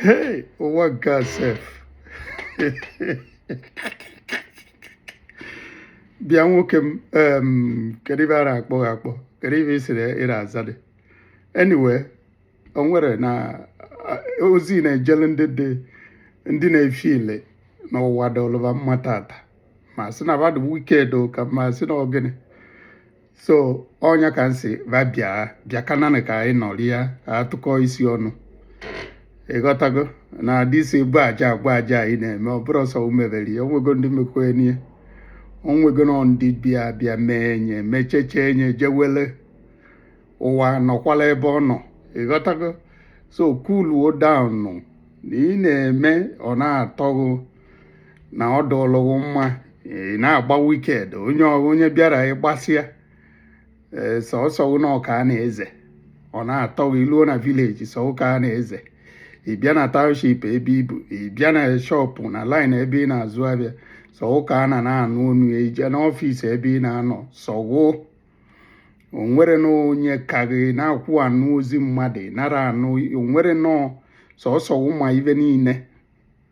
Hey, ụwa nke a sef bịa nwoke m kedu ive a na-akpọ gị akpọ kedu ive ị sịrị ị na-aza dị anyway o nwerenụ ozi na-ejele ndị dị ndị na-efeel na ụwa dụlụ va mma tata ma sị na va dụ wicked ka ma sị na ọ gịnị so ọ nya ka m sị va bịa bịa kananị ka anyị nọrịa tụkọ isi ọnụ ị ghọtago na this bụ aja agwa aja anyị na-eme ọ bụrọ sọ mụ mebere ya o nwego ndị mekwenye o nwego na ndị bịa bịa mee enye mecheche enye jewele ụwa nọkwala ebe ọ nọ ị ghọtago so cool down na ị na-eme ọ na-atọ ghụ na ọ dụlụ ghụ mma ị na-agba wicked onye onye bịara ị gbasịa ee sọsọ ghụ nụ ka a na-eze ọ na-atọ gị i luo na village sọ ghụ ka a na-eze ị bịa na township ebe i bu ị bịa na shop na line ebe ị na-azụ avịa sọ ghụ ka a na na-anụ onu ya i je n'office ebe ị na-anọ sọ ghụ o nwerenụ onye ka gị na-akwụ anụ ozi mmadụ nara anụ o nwere nọọ sọsọ ghụ ma ive niile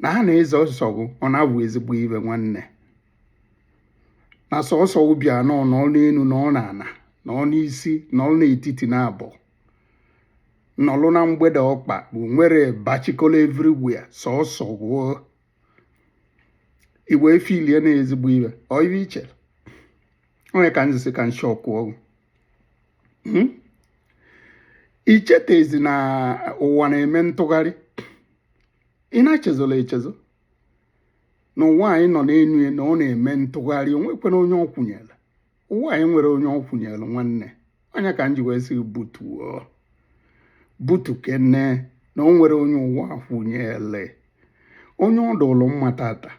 na ha na-eze sọ ghụ ọ na-abụ ezigbo ive nwanne na sọsọ ghụ bịa nọ nọ n'enu nọ n'ana nọ n'isi nọlụ n'etiti na avọ nọlụ na mgbede ọkpa bụ nwere bachikolo everywhere sọsọ ghụ i wee feelie na ezigbo ive ọ ive i chere ọ nya ka m ji sị ka nshọ kwuo hmm? i chetezi na ụwa na-eme ntụgharị ị na-echezọla echezọ na ụwa anyị nọ n'elu ya na ọ na-eme ntụgharị o nwekwere onye ọ kwụnyere ụwa anyị nwere onye ọ kwụnyere nwanne ọ nya ka m ji wee sị butuo butukene na o nwere onye ụwa kwụnyere onye ọ dụlụ mma tata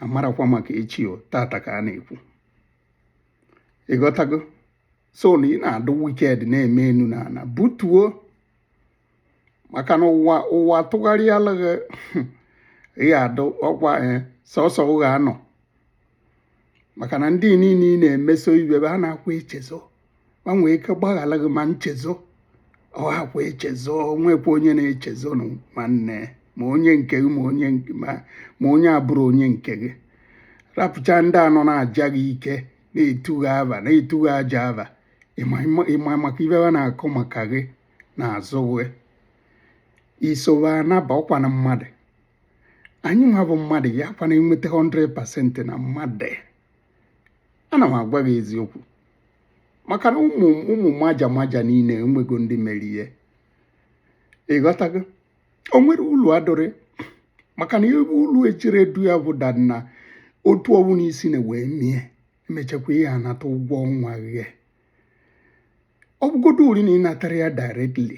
amarọkwa maka echi ọ tata ka a na-ekwu ị ghọtago so na ị na-adụ wicked na-eme enu na ana butuo maka na ụwa ụwa tụgharịala gị ị adụ ọkwa eh, sọsọ ghụ ga-anọ maka na ndị niile ị na-emeso ive ha anakwa echezọ va nwee ike gbaghara gị ma nchezọ ọ hakwa echezọ nwekwa onye na-echezọ nụ nwanne ma onye nke gị ma onye ma onye abụrọ onye nke gị rapụcha ndị a nọ na-aja gị ike na-etu gị ava na-etu gị aja ava ị ma makwa ive ha na-akọ maka gị n'azụ gị isowe anaba ọ kwanụ mmadụ anyị nwa bụ mmadụ ya kwana enweta 100% na mmadụ ana m agwa gị eziokwu maka na ụmụ ụmụ maja maja niile enwego ndị mere ihe ịghọtago o nwere ụlọ adịrị maka na ebe ụlọ e jiri du ya bụ da na otu ọnwụ n'isi na wee mie emechakwa ị ya-anata ụgwọ ọnwa gị ọ bụgoduri na ị natara ya directly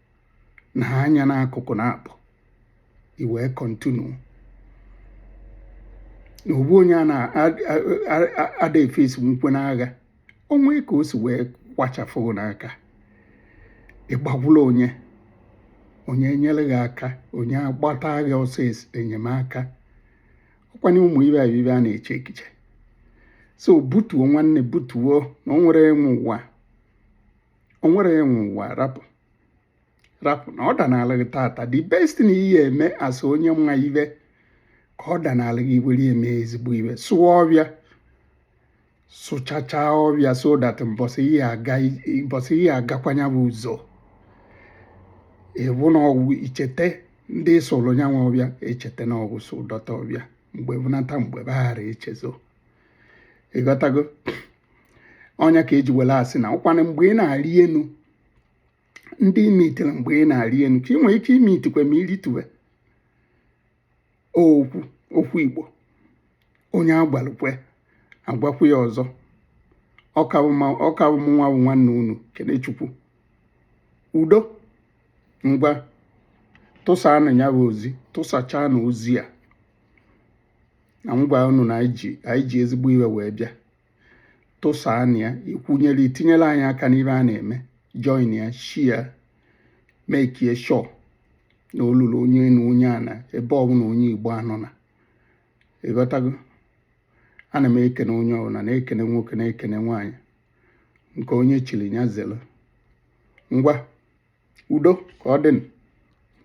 na ha anya n'akụkụ na-apụ i wee continue na ogbu onye a na-ada efe esemokwu n'agha o nwee ka o si wee kwachafụ n'aka ị gbagbula onye onye enyere gị aka onye agbata gị ọsọ enyemaka ọ kwanụ ụmụ ibe abibe a na-eche echiche so butuo nwanne butuo na o nwerọ onye nwe ụwa o nwerọ onye nwe ụwa rapụ rapụ na ọ danala gị tata the best na ị ya-eme as onye ma ife ka ọ danala gị were mee ezigbo ife sụọ ọfịa sụchachaa ọfịa so that mbọsị ị ya-agakwa ya bụ ụzọ ịbụ na ọgwụ i chete ndị sụrụ ya nwa ọfịa echete na ọgwụ sụdota ọfịa mgbe bụnata mgbe baghara echezo ịghọtago ọ ya ka e ji were asị na ọ kwanụ mgbe ị na-arị enu ndị i meetiri mgbe ị na-arị enu ka ị nwere ike imeetikwa ma ị rịtuwe okwu okwu igbo onye agwalụkwe agwakwu ya ọzọ ọ ka wụ mụnwa bụ nwanne unu Kenechukwu udo ngwa tụsanụ ya bụ ozi tụsachaanụ ozi a agwa unu na anyị ji ezigbo ife wee bịa tụsaanụ ya ikwunyere itinyere anyị aka n'ife a na-eme join ya share make sure na o lulu onye na onye a na ebe ọbụla onye igbo anọ na ịghọtago ana m ekene onye ọbụla na-ekene nwoke na-ekene nwaanyị nke onye chiri ya zere ngwa udo ka ọ dịnụ